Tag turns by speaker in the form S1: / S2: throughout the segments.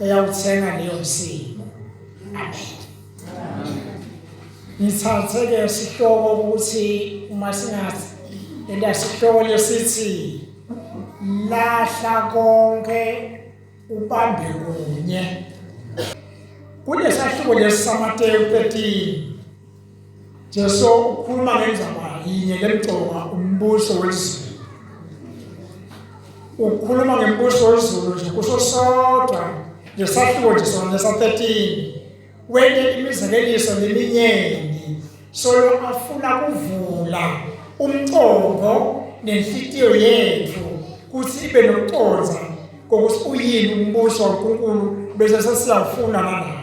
S1: eyawuthenga leyo msindo amen ngithathe ke sihloko ukuthi uma singathi elasihloko lesithi lahla konke ubambe kunye kulesahluko lesi samateyu 13 Jesu ukhuluma ngendaba yinye lemgcoma umbuso wezulu. Ukhuluma ngembuso wezulu nje kusho sodwa ngesahluko nje sona sa 13. Wente imizekeliso leminyeni solo afuna kuvula umcongo nenhlitiyo yethu kuthi ibe nokuconza kokuthi uyini umbuso waNkulunkulu bese sesiyafuna nalapho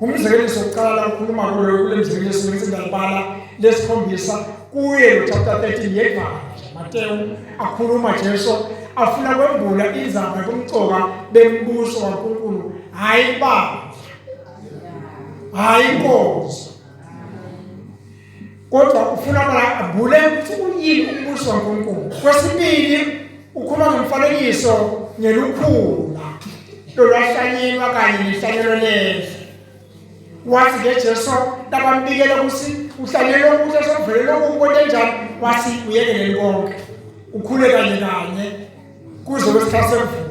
S1: umzekelo sokuqala ukhuluma kulo kule mzekelo singise ngiyabala lesikhombisa kuye chapter 13 yevangeli Mateyu akhuluma Jesu afuna kwembula izaba kumcoka bembuso kaNkulunkulu hayi baba hayi inkosi kodwa ufuna abule ukuthi uyini umbuso waNkulunkulu kwesibili ukhuluma ngomfanekiso ngelukhula lolwahlanyelwa kanye nehlanyelo lendle wathi ke Jesu labambikela ukuthi uhlanyelwe ukuthi esovele lokhu konke njalo wathi uyekelele konke ukhule kanye kanye kuze kwesikhathi semvula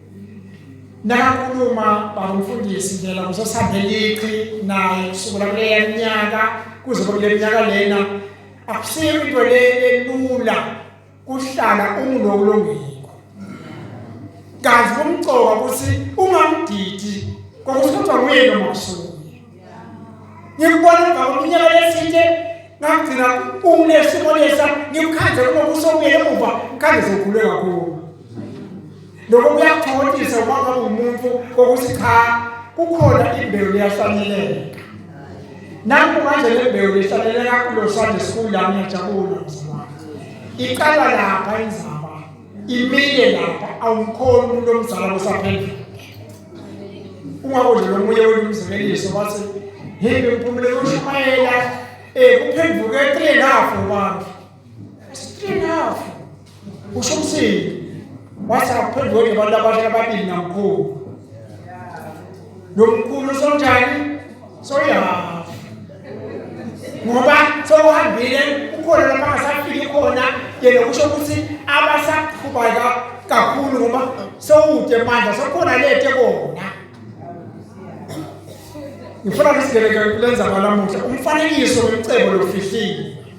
S1: Nakakhuluma bangumfundisi phela kusesambeliqhi naye kusukela kuleya minyaka kuze kule minyaka lena akusiyo into le elula kuhlala ungunokulungiko kanti kumcoka ukuthi ungamdidi kokuthi kodwa nguye lo masuku ngikubona emva kweminyaka lethinte ngagcina unesimo lesa ngimkhandle uma kusomile emuva ngikhandle sokhuleka kuwo lokho kuyakuthokozisa uma ngabe umuntu kokuthi cha kukhona imbewu leyahlaleleka nanku manje le mbewu lehlaleleka kulo Sunday school la ngiyajabula mzimana iqala lapha inzaba imile lapha awumkhona umuntu omzala kusaphendula ungakudlela omunye wenu umzimeliso bathi himbe mphumele ushumayela um kuphenduke eqile lapho bantu Three half. Usho umsini. Wase akuphendwe ke abantu abasha ababili namkhulu. Nomkhulu sonjani? Soya. Ngoba sokuhambile ukhona lapha asafike khona yena kusho ukuthi abasaqhubeka kakhulu ngoba sowude manje sokhona lete kona. Ngifuna ngisigele ke kulenza kwalamuhla umfanekiso womcebo lofihlile.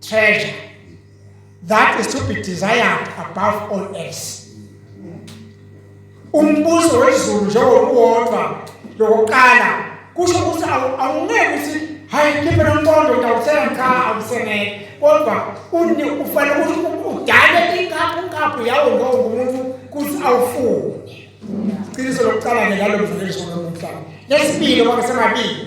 S1: treasure that is to be desired above all else umbuso wezulu njengokuwodwa lokuqala kusho ukuthi awungeke ukuthi hayi khiphe nomqondo ngiyawuthenga cha awusenele kodwa uni ufanele ukuthi udale inkaphu inkaphu yawo lowo ngumuntu ukuthi awufune iqiniso lokuqala-ke lalo mvulelisho lomuhlaba lesibili kwake semabili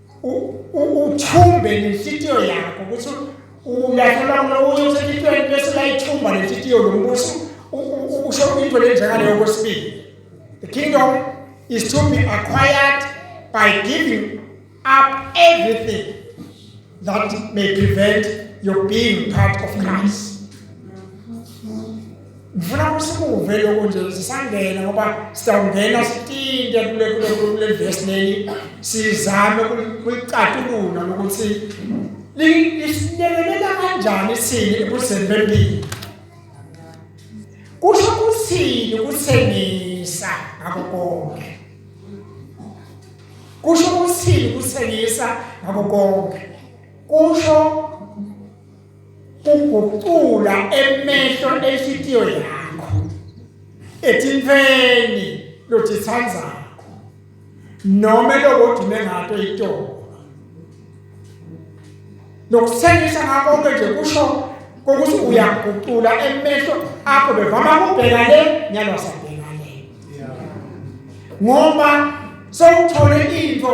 S1: uthumbe nenhlitiyo yakho ukuthi ulahlela kula uye usenhlitiyweni bese layithumba nenhlitiyo lombuso usho into lenjengaleyo kwesibili the kingdom is to be acquired by giving up everything that may prevent your being part of Christ. ngifuna usikuve lokho nje sisangena ngoba sitawungena sitinte kule kule kule verse leli sizame kulicatulula ukuthi lisinekelela kanjani sini ebuseni bempilo kusho kuthini ukuthengisa ngakho konke kusho ukuthini ukuthengisa ngakho konke kusho ugucula emehlo enhliziyo yakho ethi mfeni lothi thandzakho noma lokodime ngato itoko nokuthengisa ngakho ke nje kusho kokuthi uyagucula emehlo akho bevama kubheka le nyalo sabheka le ngoba sewuthole into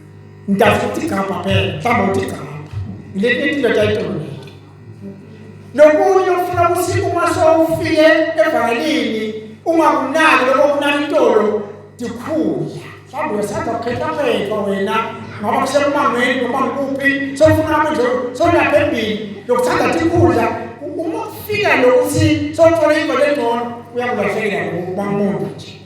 S1: Ngidafuna ukuthi gabha phela, mhlawumbe uthi gabha. Ngilethwe indoda ayidolile. Lokunye ufuna ukuthi uma sowufike evangelini ungakunaki lokho kunani intolo ndikhula. Mhlawumbe uyasanda kukhetha phela wena ngoba kusemangweni noma ngikuphi sofuna manje solapha embili lokuthanda tikhudla uma ufika lokuthi sothola ingoba engcono uyakulahlekela ngoba umuntu nje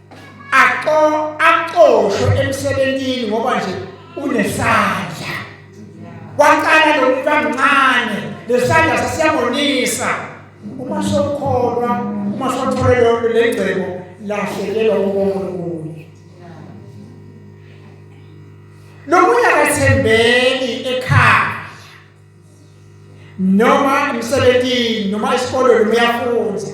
S1: aqo aqoshwe emsebenzini ngoba nje unesandla waqala lomuntu amncane lesandla sasiyabonisa uma sokholwa uma sothole lonke lengcebo lahlekelwa uNkulunkulu lokuya kathembeki ekhaya noma emsebenzini noma esikolweni uyafunza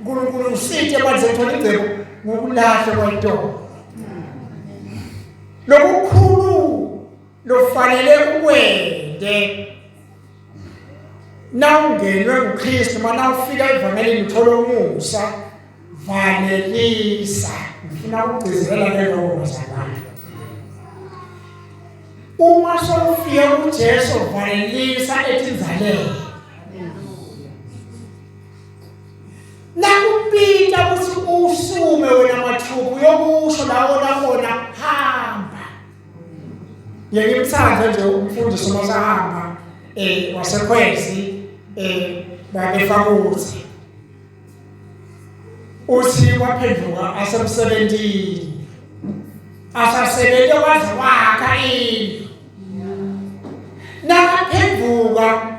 S1: uNkulunkulu usithe manje thola ingcebo ngokulahlwa kwayintombi lokukhulu lofanele ukwende nawungenwe nguKristu mana ufika evangelini uthola umusa valelisa ngifuna ukugcizelela ke lokho bazalwane uma sofika kuJesu valelisa ethi nzalele Nakupita ukuthi usume wena mathuku uyokusho lawo nakona hamba. Yeke imthanda nje umfundisi uma sahamba eh wasekhwezi eh babefakuthi uthi waphenduka asemsebenzini asasebenze waze wakha indlu nakaphenduka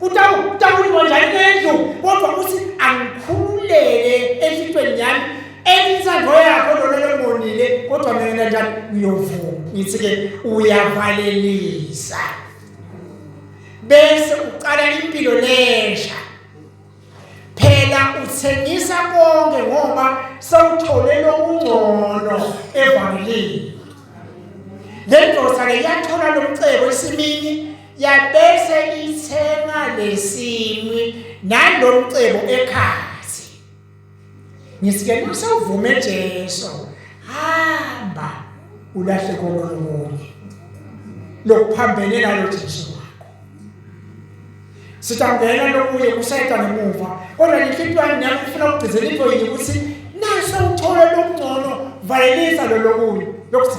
S1: Utawu utawu ingonja endlu kodwa uthi angikhululeke enhlitweni yami elinsango yakho lona lembonile kodwa mina njani uyovuma ngithi ke uyavalelisa bese uqala impilo lesha phela uthengisa konke ngoba sewuthole lokungcono evangelini le ndoda ke yathola lomcebo esimini yabese ithenga lesinqi nalomcebo ekhathi ngisike usevume Jesu hamba ulahle komunye lokuphambene nalo Jesu wakho sitangena lokuye kusayita ngemuva kodwa inhliziyo yami nami ifuna ukugcizela into yini ukuthi nase uthole lokungcono valelisa lo lokunye lokuthi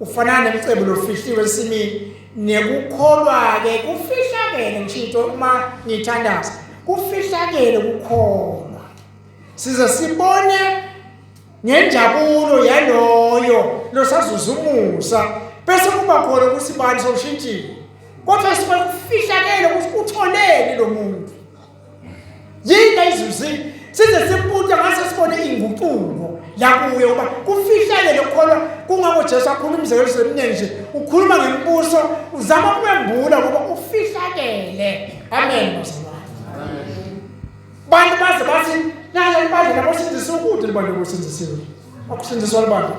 S1: Ufana nemcebo lofihliwe ensimini nekukholwa-ke kufihlakele ngishito uma ngithandaza kufihlakele kukholwa size sibone ngenjabulo yaloyo losazuza umusa bese kuba khona ukuthi bani soshintshile kodwa sibe kufihlakele ukuthi utholeni lo muntu yini ayizuzile size simpunte ngase sibone inguquko yakuye uba kufihlele lokukholwa kungako Jesu akhuluma umzekelo semnene nje ukhuluma ngembuso uzama ukwembula ukuba ufihlakele amen bantu baze bathi nalo libandla labo sindisa ukude libandla lokusindisiwe akusindiswa libandla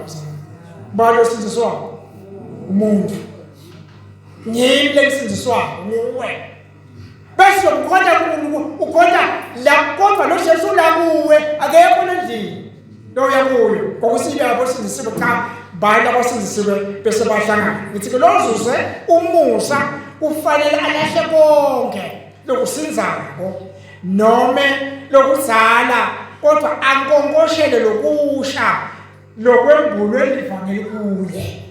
S1: balo sindiswa umuntu ngimle lisindiswa nguwe bese ukhona ukhona la kodwa lo Jesu la kuwe akekho endlini lo uyakuyo ngokusile lapho sindisiwe cha bani abasindisiwe bese bahlangana ngithi ke lozuze umusa ufanele alahle konke lokusinzako nome lokuzala kodwa ankonkoshele lokusha lokwembulwe livangeli kuye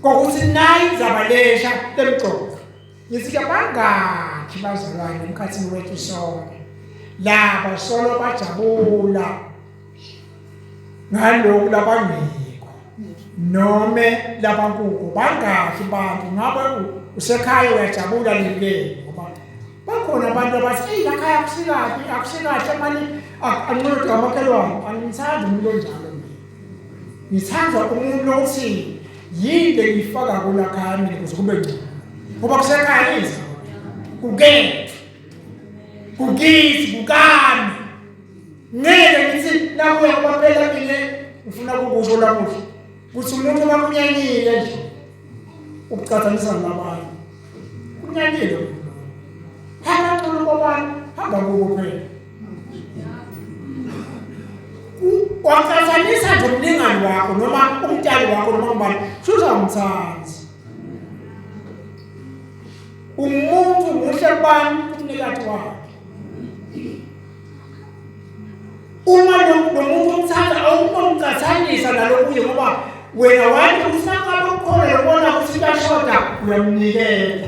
S1: kokuthi nayi inzaba lesha lemgqoka Ngizike bangakhi bazalwane emkhathini wethu sonke laba solo bajabula ngaloku labangiko nome labankuku bangakhi bantu ngabe usekhaya uyajabula lileni ngoba bakhona abantu abathi eyi lakhaya akusikabi akusikahle mani anqoda amakhelwane angimthandi umuntu onjalo ngithandwa umuntu lokuthi yini engiyifaka kula khami ukuze kube ngcono ngoba kusekhayisa kukethu kukithi kukami ngeke ngithi nakuya kwaphela mina ngifuna kukusho lamuhla ukuthi umuntu makunyanyile nje ukucathanisa nabanye kunyanyile hamba ncono kwabantu hamba kubo phela waqhathanisa nje umlingani wakho noma umtali wakho noma ubani shuthi awumthandi umuntu muhle kubani umnikati wakhe uma nomuntu umthanda awunomqhathanisa nalokuye ngoba wena wathi usakala ukhona yobona ukuthi kuyashoda uyamnikela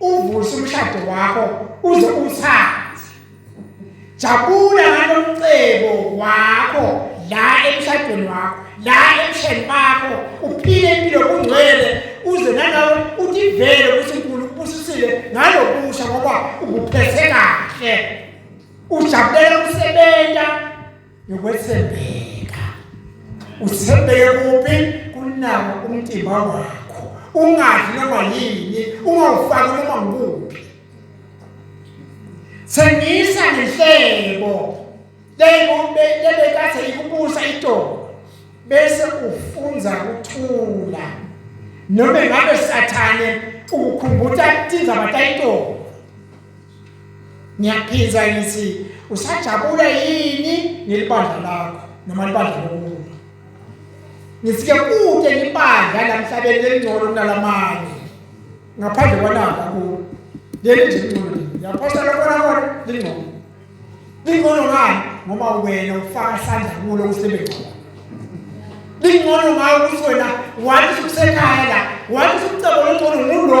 S1: Uvusa umshado wakho uze uthande. Jabula ngalomcebo wakho la emshadweni wakho, la emsheni bakho, uphile impilo kungcwele uze nalawo utivele ukuthi uNkulunkulu ukubusisile ngalokusha ngoba ukuphethe kahle. Ujabulela ukusebenza yokwethembeka uthembeke kuphi kunawo umtimba wakho ungadli noma yini ungawufaki noma ngikuphi thengisa ngehlebo lebekade ikubusa itolo bese ufunza ukuthula noma ngabe sathane ukukhumbuta tindzaba tayitolo ngiyaphindza ngitsi usajabula yini ngelibandla lakho noma libandla lokulunga ngitsi ke kute libandla lamhlabeni lelingcono kunalamanye ngaphandle kwanaka ku leli nje lingcono yaphosta lokona kona lingcono lingcono ngani ngoba wena ufaka isandla kulo usebenzi wakho lingcono ngayo ukuthi wena wathi usekhaya la wathi umcebo longcono ngulo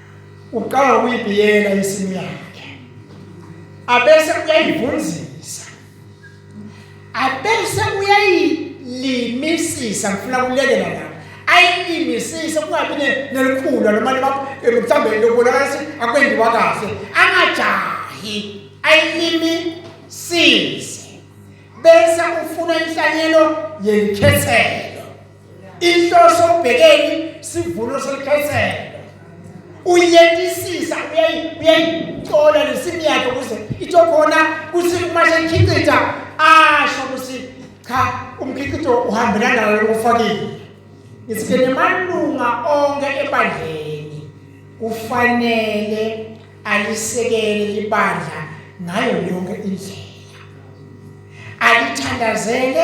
S1: uqala ukuyibiyela insimu yakhe abese uyayivunzisa abese uyayilimisisa ngifuna kulekela la ayilimisise kungabi nelikhulu noma mhlawumbe lokubonakala ukuthi akwenziwa kahle angajahi ayilimisise bese ufuna inhlanyelo yelikhethelo inhloso ubhekeni sivuno selikhethelo uyetisisa uyayicola nesimu yakhe ukuze itsho khona kuthi uma seyikhicitha asho ukuthi cha umkhiqido uhambelana nalo lokufakile ngisike nemalunga onke ebandleni kufanele alisekele libandla ngayo yonke indlela alithandazele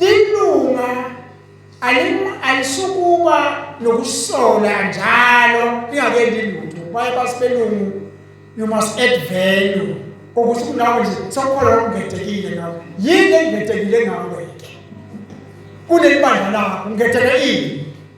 S1: lilunga alisukuba nokusola njalo lingake lilutho baye basibelungu you must add value ukuthi kunawe nje sekukhona okungethekile ngawe yini engethekile ngawe-ke kuleli bandla lakho ngetheke ini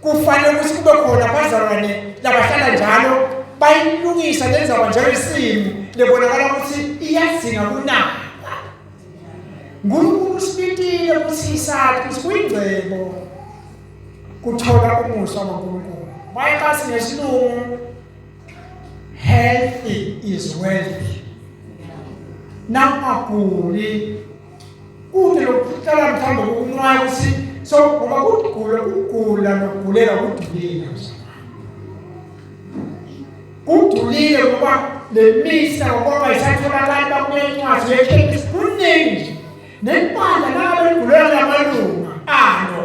S1: kufanele ukuthi kube khona abazalwane labahlala njalo bayilungisa lenzaba njalo isimo lebonakala ukuthi iyadzinga kunaka ngunkulu usibitile ukuthi isakhe ukuthi kuyingcebo kuthola umusa wankulunkulu mayekasi ngesilungu healthy is wealthy nangaguli kude lokuhlala mhlawumbe kokunqwaya ukuthi so ngoba kugula kugula nokugulela kudulile kudulile ngoba le misa ngoba isatholakali bakuye incwadi yekhemisi kuningi nempandla nabo beligulela lamalungu alo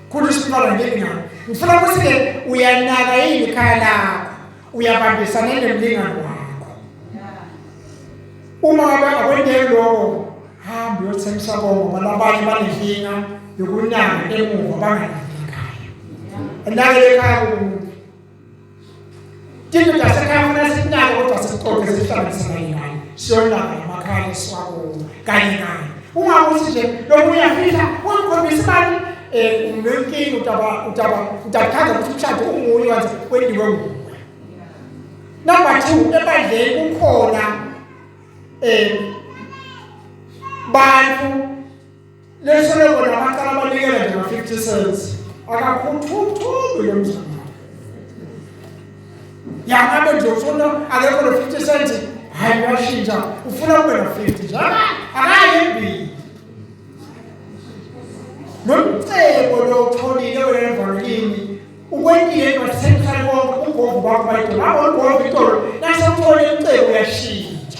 S1: Khulu isibona ngingani. Ngifuna ukuthi ke uyanaka yini ikhaya lakho. Uyabambisana nemlingani wakho. Uma ngabe akwendeki lokho hamba uyothengisa konke ngoba labanye banenkinga yokunaka emuva banganaki ekhaya. Enake ekhaya kumuntu. Tito tasekhaya funa sinalo kodwa sixoxe sihlanganisana yinayo. Siyolala emakhaya siwakuwo kanye naye. Uma ukuthi nje lomunye uyafihla ungikhombisa imali eh unenkinga utaba utaba utachaza ukuthi umshado unguye wathi kwendiwe nguwe. Number 2 ebandleni kukhona eh bantu Lesele bona baqala banikela nje ma-50 cents akakhuthuthumbi lo mzana yangabe nje ufuna akekho lo 50 cents hayi uyashintsha ufuna kube na 50 njalo akayimbili nomcebo lotholile wena mvalini ukwendile kwasenhlale konke ugogo bakho bayidolabo ugogo itolo nasewuthole umcebo uyashintsha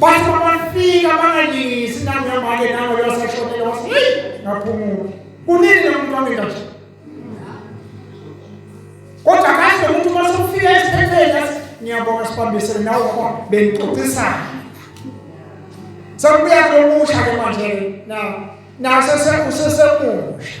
S1: Bathi bafika bangalingisi nami ngamake nango yosashonela wasi ngaphumula. Kunini lomuntu wami kanje? Kodwa kahle umuntu uma sokufika esiphepheni athi ngiyabonga sibambisene nawe ngoba bengixoxisana. Sekubuya lomusha ke manje na na sese usesemusha.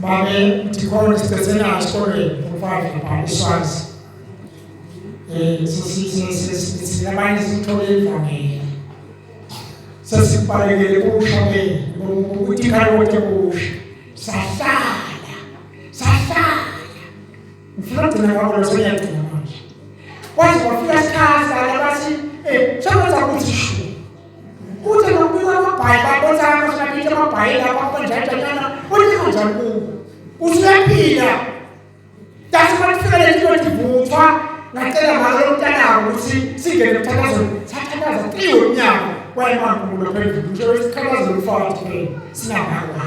S1: babe ndikhona sibethenana esikolweni umfazi lapha iswazi um sinabanye sithole ivangeli sesibalekele kusha ke ukuthi ikhale konke kusha sahlala sahlala ngifuna ugcina kwakho lo sengiyagcina manje kwaze kwafika isikhathi la bathi um eh, sekwenza ukuthi shu Uthi ngokubika amabhayi babona amashapiti amabhayi lapho akonjajanyana uthi kanjani kuwo. Usuyaphila. That's what fika le nto ndivuthwa ngacela ngalo mntanabo ukuthi singene emthandazweni sathandaza kiwo umnyango wayemangulo phezulu nje wesikhalazo lufaka thina sinabangwa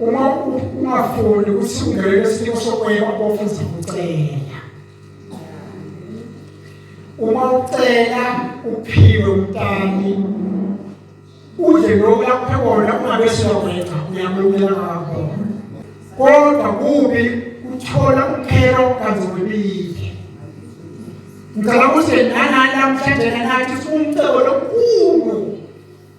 S1: uma ungafuni ukuthi ungene kwesinye sokweba bofu uzakucela uma ucela uphiwe umntani udle lokhu laphe kona ungabe siyokwetha uyamukela ngakho kodwa kubi uthola uphelo kanzobile ngicela ukuthi nanani namhlanje nathi siwumcebo lokukhulu